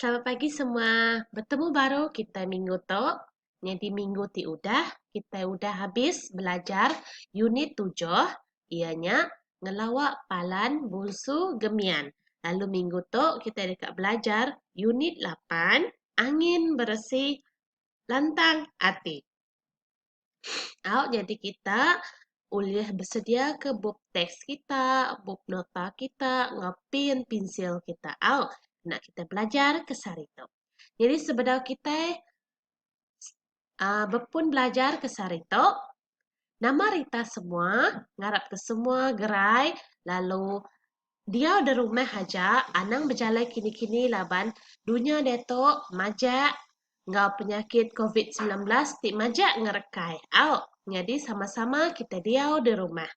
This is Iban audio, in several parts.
Selamat pagi semua. Betemu baru kitai minggu tu. Nyadi minggu ti udah kitai udah habis belajar unit tujuh iya nya ngelawa palan bunsu gemian. Lalu minggu tu kitai deka belajar unit lapan angin beresi lantang ati. Au jadi kita ulih besediaka bup teks kita, bup nota kita enggau pen pensil kita au enda kita belajar ke sehari tu. Jadi sebedau kitai aaa bepun belajar ke sehari tu nama rita semua ngarapka semua gerai lalu Diau da rumah aja anang bejalai kini-kini laban dunya diatu majak enggau penyakit covid semilan belas ti majak ngerekai au nyadi sama-sama kitai diau da rumah.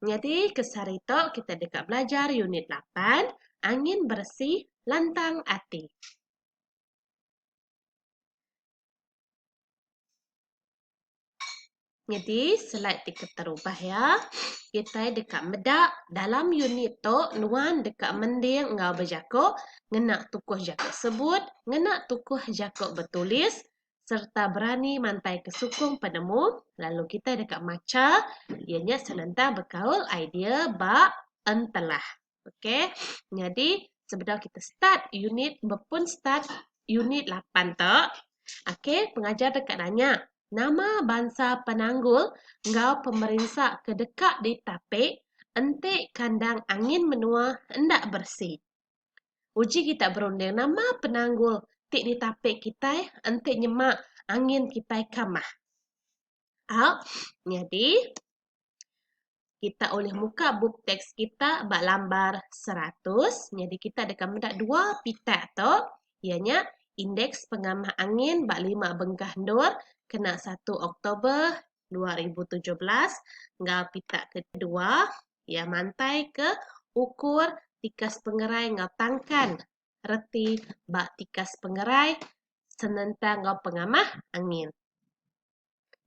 Nyadi ke sehari tu kitai deka belajar unit lapan angin beresih lantang ati. Nyadi slide ti keterubah iya, kitai deka meda dalam unit tu nuan deka mending enggau bejaku ngena tukuh jaku sebut, ngena tukuh jaku betulis sereta berani mantaika sukung penemu lalu kitai deka macha iya nya senentang bekaul idea ba entelah. Okay. Nyadi, sebedau kita start unit, bepun start unit 8 tu, okay, pengajar deka nanya, nama bansa penanggul enggau pemerinsa ke deka ditapi enti kandang angin menua enda beresi? Uji kita berunding, nama penanggul ti ditapi kitai enti nyema angin kitai kamah? Au. Nyadi, kita ulih muka bup teks kita ba lambar seratus nyadi kita deka meda dua pita tu iya nya indeks pengamah angin ba lima bengkah endur kena satu Oktober dua ribu tujuh belas enggau pita kedua iya mantai ke ukur tikas pengerai enggau tangkan reti ba tikas pengerai senentang enggau pengamah angin.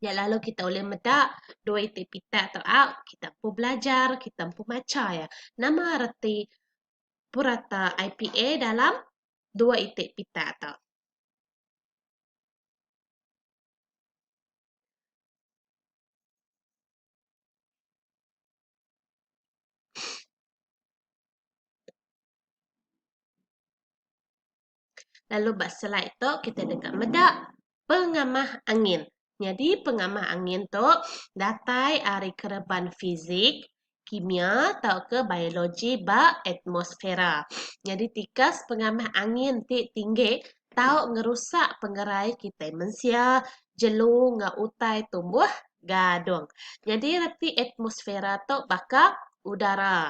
Nya lalu kita ulih meda dua iti pita tu a kita empu belajar kita empu macha iya. Nama reti purata IPA dalam dua iti pita tu? Lalu ba slide tu kita deka meda pengamah angin. Nyadi pengamah angin tu datai ari kereban fizik, kimia tauka biologi ba atmosfera. Nyadi tikas pengamah angin ti tinggi tau ngerusak pengerai kitai mensia, jelu enggau utai tumbuh gadung. Nyadi reti atmosfera tu baka udara.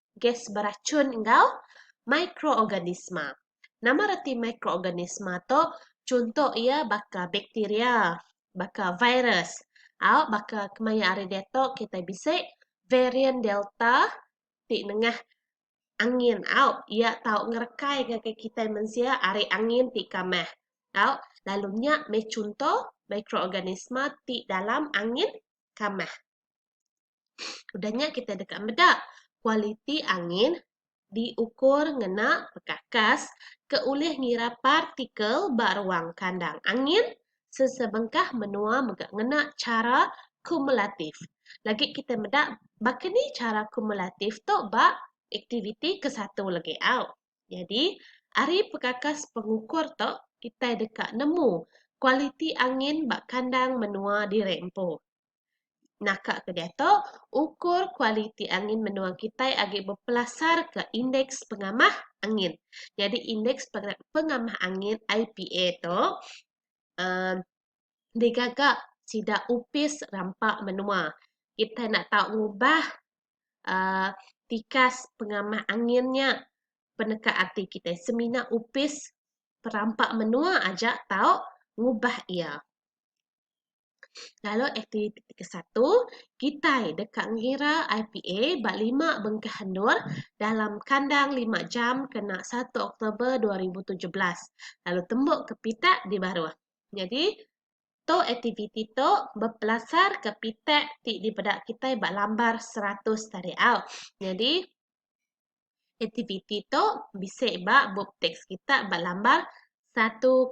gas berachun enggau mikroorganisma. Nama reti mikroorganisma tu? Chunto iya baka bakteria, baka virus, au baka kemaya ari diatu kitai bisi varian delta ti nengah angin au iya tau ngerekai ngagai kitai mensia ari angin ti kamah au lalu nya meh chunto mikroorganisma ti dalam angin kamah. Udah nya kita deka meda kualiti angin diukur ngena pekakas ke ulih ngira partikel ba ruang kandang angin sesebengkah menua mega ngena chara kumulatif. Lagi kita meda baka ni chara kumulatif tu ba aktiviti ke satu lagi au. Nyadi ari pekakas pengukur tu kitai deka nemu kualiti angin ba kandang menua diri empu. Naka ke diatu, ukur kualiti angin menua kitai agi bepelasarka Indeks Pengamah Angin. Nyadi Indeks Pengamah Angin, IPA, tu uhh digaga sida Opis Rampa Menua. Kitai enda tau ngubah uhh tikas pengamah angin nya peneka ati kitai semina Opis Rampa Menua aja tau ngubah iya. Lalu aktiviti ti kesatu, kitai deka ngira IPA ba lima bengkah endur dalam kandang lima jam kena satu Oktober dua ribu tujuh belas lalu tembu ke pitak di baruh. Nyadi, tu aktiviti tu bepelasarka pitak ti dipeda kitai ba lambar seratus tadi au. Nyadi. Aktiviti tu bisi ba bup teks kita ba lambar 101.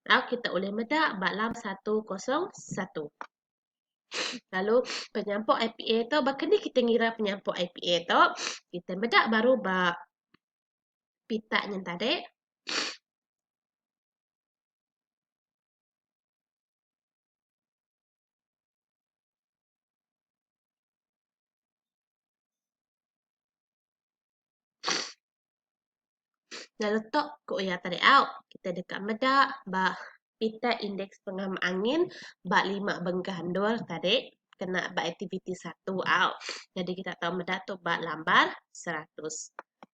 Tau kita ulih meda ba lam 101. Lalu penyampuk IPA tu baka ni kita ngira penyampuk IPA tu? Kita meda baru ba pita nyen tadi. Nya letup ke uya tadi au, kitai deka meda ba piter indeks pengema angin ba lima bengkah endur tadi kena ba aktiviti satu au. Jadi kita tau meda tu ba lambar seratus.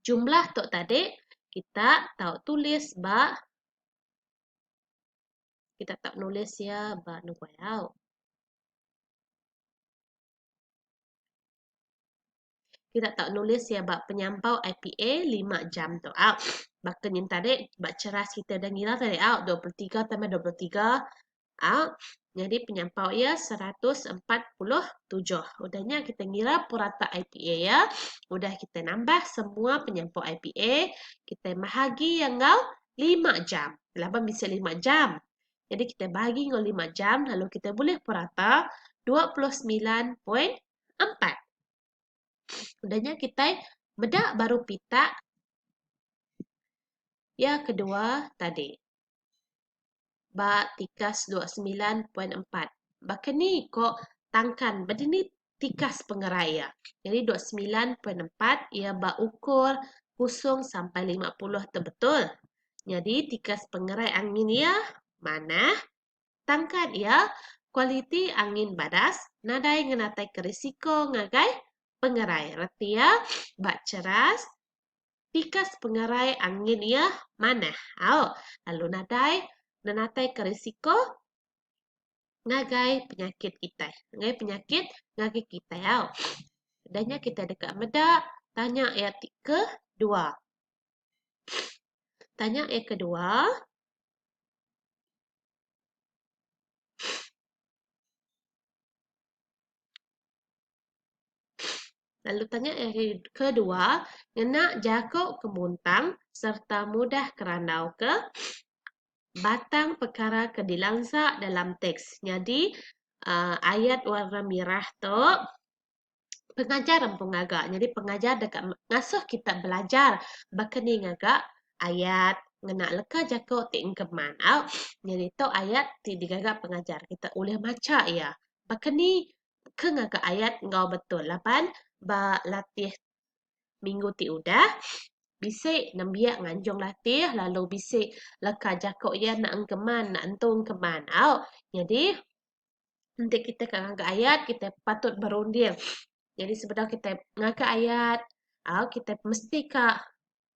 Jumlah tu tadi kita tau tulis ba kita tau nulis ia ba nuai au. Kita tau nulis ia ba penyampau IPA lima jam tu au. Baka nyin tadi ba ceras kita dah ngira tadi au dua puluh tiga tambah dua puluh tiga Au, nyadi penyampau iya seratus empat puluh tujuh. Udah nya kita ngira purata IPA iya, udah kita nambah semua penyampau IPA, kita bahagi iya enggau lima jam. Laban bisi lima jam. Jadi kita bahagi enggau lima jam lalu kita bulih purata dua puluh semilan poin empat. Udah nya kita meda baru pita iya kedua tadi. ba tikas dua semilan poin empat. Baka ni ko tangkan beda ni tikas pengerai iya. Jadi dua semilan poin empat iya ba ukur kusung sampai lima puluh tu betul. Jadi tikas pengerai angin iya manah tangkan iya kualiti angin badas nadai ngenataika risiko ngagai pengerai reti iya ba ceras Tikas pengerai angin iya manah au lalu nadai nenataika risiko ngagai penyakit kitai, ngagai penyakit ngagai kitai au. Udah nya kitai deka meda tanya iya ti kedua. Tanya iya kedua, Lalu tanya yang kedua, ngena jaku kemuntang serta mudah kerandau ke batang pekara ke dilansa dalam teks. Nyadi uh, ayat warna merah tu pengajar empu ngaga. Nyadi pengajar dekat ngasuh kita belajar baka ni ngaga ayat ngena leka jaku ti engkeman. Au, nyadi tu ayat ti digaga pengajar. Kita ulih macha iya. Baka ni ke ngaga ayat enggau betul laban ba latih minggu ti udah bisi nembiak nganjung latih lalu bisi leka jaku iya naang keman naentung keman au nyadi enti kitai ka ngaga ayat kitai patut berunding nyadi sebedau kitai ngaga ayat au kitai mesti ka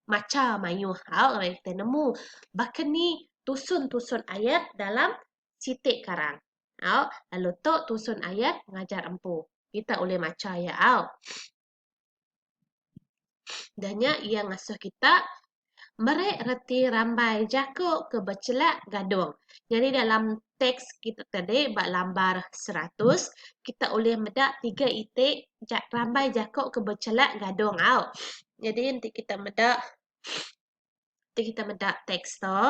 macha mayuh au ngagai kitai nemu baka ni tusun-tusun ayat dalam siti karang. Au, lalu tu tusun ayat ngajar empu. Kita ulih macha iya au. Da nya iya ngasuh kita meri reti rambai jaku ke bechelak gadung. Nyadi dalam teks kita tadi ba lambar seratus, kita ulih meda tiga iti rambai jaku ke bechelak gadung au. Nyadi enti kita meda, enti kita meda teks tu.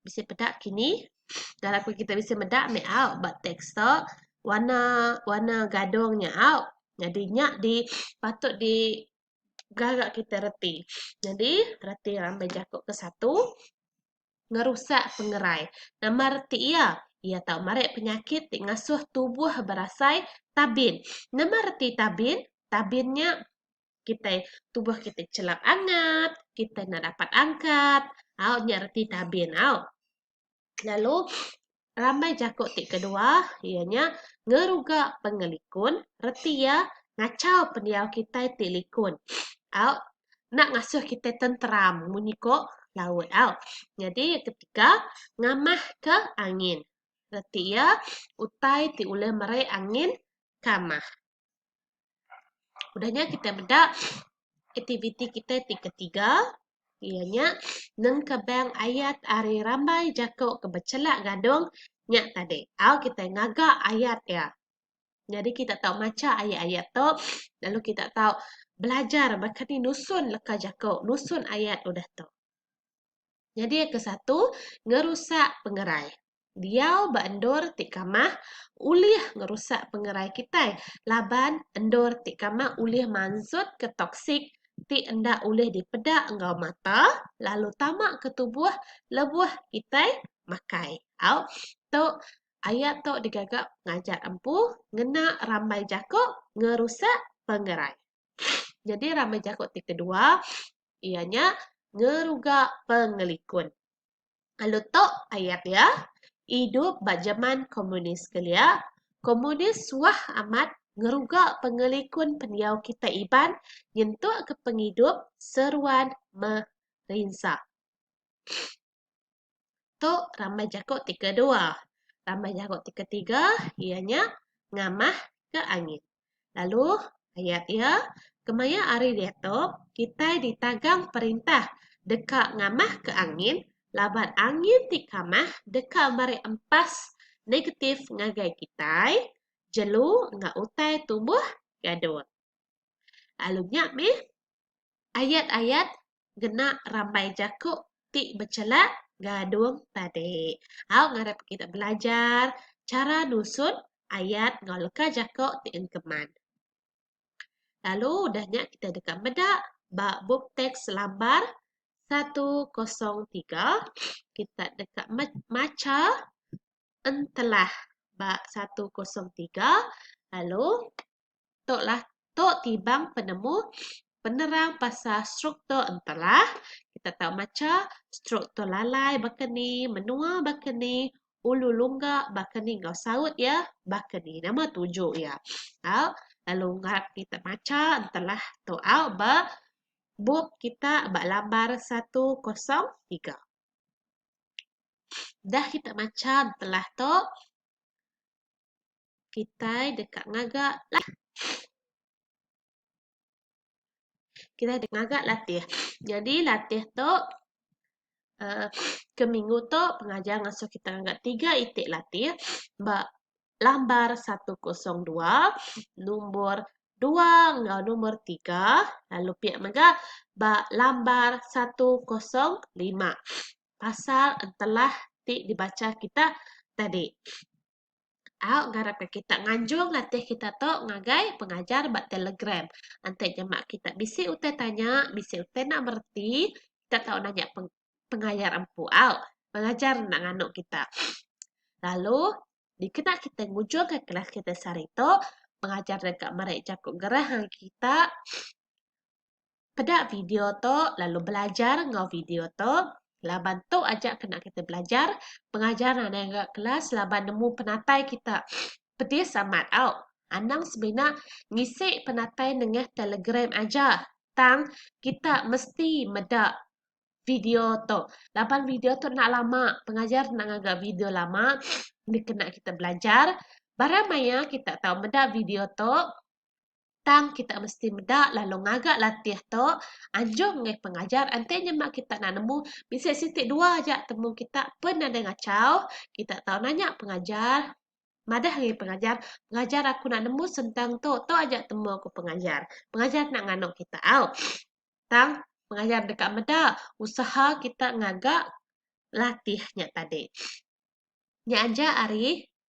Bisi peda kini. Dan aku kita bisi meda ambil out ba teks tu. Warna warna gadung nya out. Jadi nya di patut di gaga kita reti. Jadi reti rambai jaku ke satu ngerusak pengerai. Nama reti iya? Iya tau marik penyakit ti ngasuh tubuh berasai tabin. Nama reti tabin? Tabin nya kitai tubuh kitai chelap angat, kitai enda dapat angkat, au nya reti tabin au. Lalu rambai jaku ti kedua iya nya ngeruga pengelikun reti iya ngachau pendiau kitai ti likun au enda ngasuh kitai tenteram munyi ko laut au. Nyadi ketiga ngamah ke angin reti iya utai ti ulih merai angin kamah. Udah nya kita meda aktiviti kita ti ketiga iya nya nengkebang ayat ari rambai jako ke bechelak gadung nya tadi au kita ngaga ayat iya. Nyadi kita tau macha ayat-ayat tu lalu kita tau belajar baka ni nusun leka jako nusun ayat udah tu. Nyadi ke satu, ngerusak pengerai. Diau ba endur ti kamah ulih ngerusak pengerai kitai laban endur ti kamah ulih mansutka toksik ti enda ulih dipeda enggau mata lalu tama ke tubuh lebuh kitai makai. Au tu ayat tu digaga ngajar empu ngena rambai jaku ngerusak pengerai. Jadi rama jaku ti kedua iya nya ngeruga pengelikun. Lalu tu ayat dia idup ba jeman komunis kelia, komunis suah amat ngeruga pengelikun pendiau kitai Iban nyentukka pengidup seruan merinsa. Tu rambai jaku ti kedua. Rambai jaku ti ketiga iya nya ngamah ke angin. Lalu ayat iya kemaya ari diatu kitai ditagang perintah deka ngamah ke angin laban angin ti kamah deka meri empas negatif ngagai kitai jelu enggau utai tumbuh gadun. Lalu nya mih ayat-ayat ngena rambai jaku ti bechela gadung tadi. Au ngarap kita belajar chara nusun ayat enggau leka jaku ti engkeman. Lalu udah nya kita deka meda ba bup teks lambar satu kosong tiga kita deka macha entelah ba satu kosong tiga lalu. Tu lah tu tibang penemu penerang pasal struktur Entera. Kita tau macha struktur lalai baka ni, menua baka ni, ulu lungga baka ni enggau saut iya baka ni. Nama tuju iya. Au lalu ngarap kita macha Entera tu au ba bup kita ba lambar 103. Udah kita macha Entera tu Kitai deka ngaga latih. Kitai deka ngaga latih. Nyadi latih tu uhh ke minggu tu pengajar ngasuh kitai ngaga tiga iti latih ba lambar satu kosong dua, nombor dua enggau nombor tiga lalu pia mega ba lambar satu kosong lima pasal entelah ti dibacha kitai tadi. Au ngarapka kita nganjung latih kita tu ngagai pengajar ba Telegram. Enti nyema kita bisi utai tanya, bisi utai nak mereti, kita tau nanya pengajar empu au. Pengajar enda nganu kita. Lalu dikena kita ngujungka kelas kita sehari tu, pengajar deka meri jaku gerah ngagai kita. Peda video tu lalu belajar enggau video tu laban tu aja kena kita belajar pengajar anak enggau kelas laban nemu penatai kita pedis amat au. Anang semina ngisi penatai nengah telegram aja tang kita mesti meda video tu laban video tu enda lama pengajar enda ngaga video lama dikena kita belajar barang maya kita tau meda video tu Tang kita mesti meda lalu ngaga latih tu anjung mih pengajar enti nyema kita enda nemu bisi siti dua aja temu kita pen nadai ngachau kita tau nanya pengajar madah ngi pengajar pengajar aku enda nemu sentang tu tu aja temu ku pengajar pengajar enda nganu kita au tang pengajar deka meda usaha kita ngaga latih nya tadi nya aja ari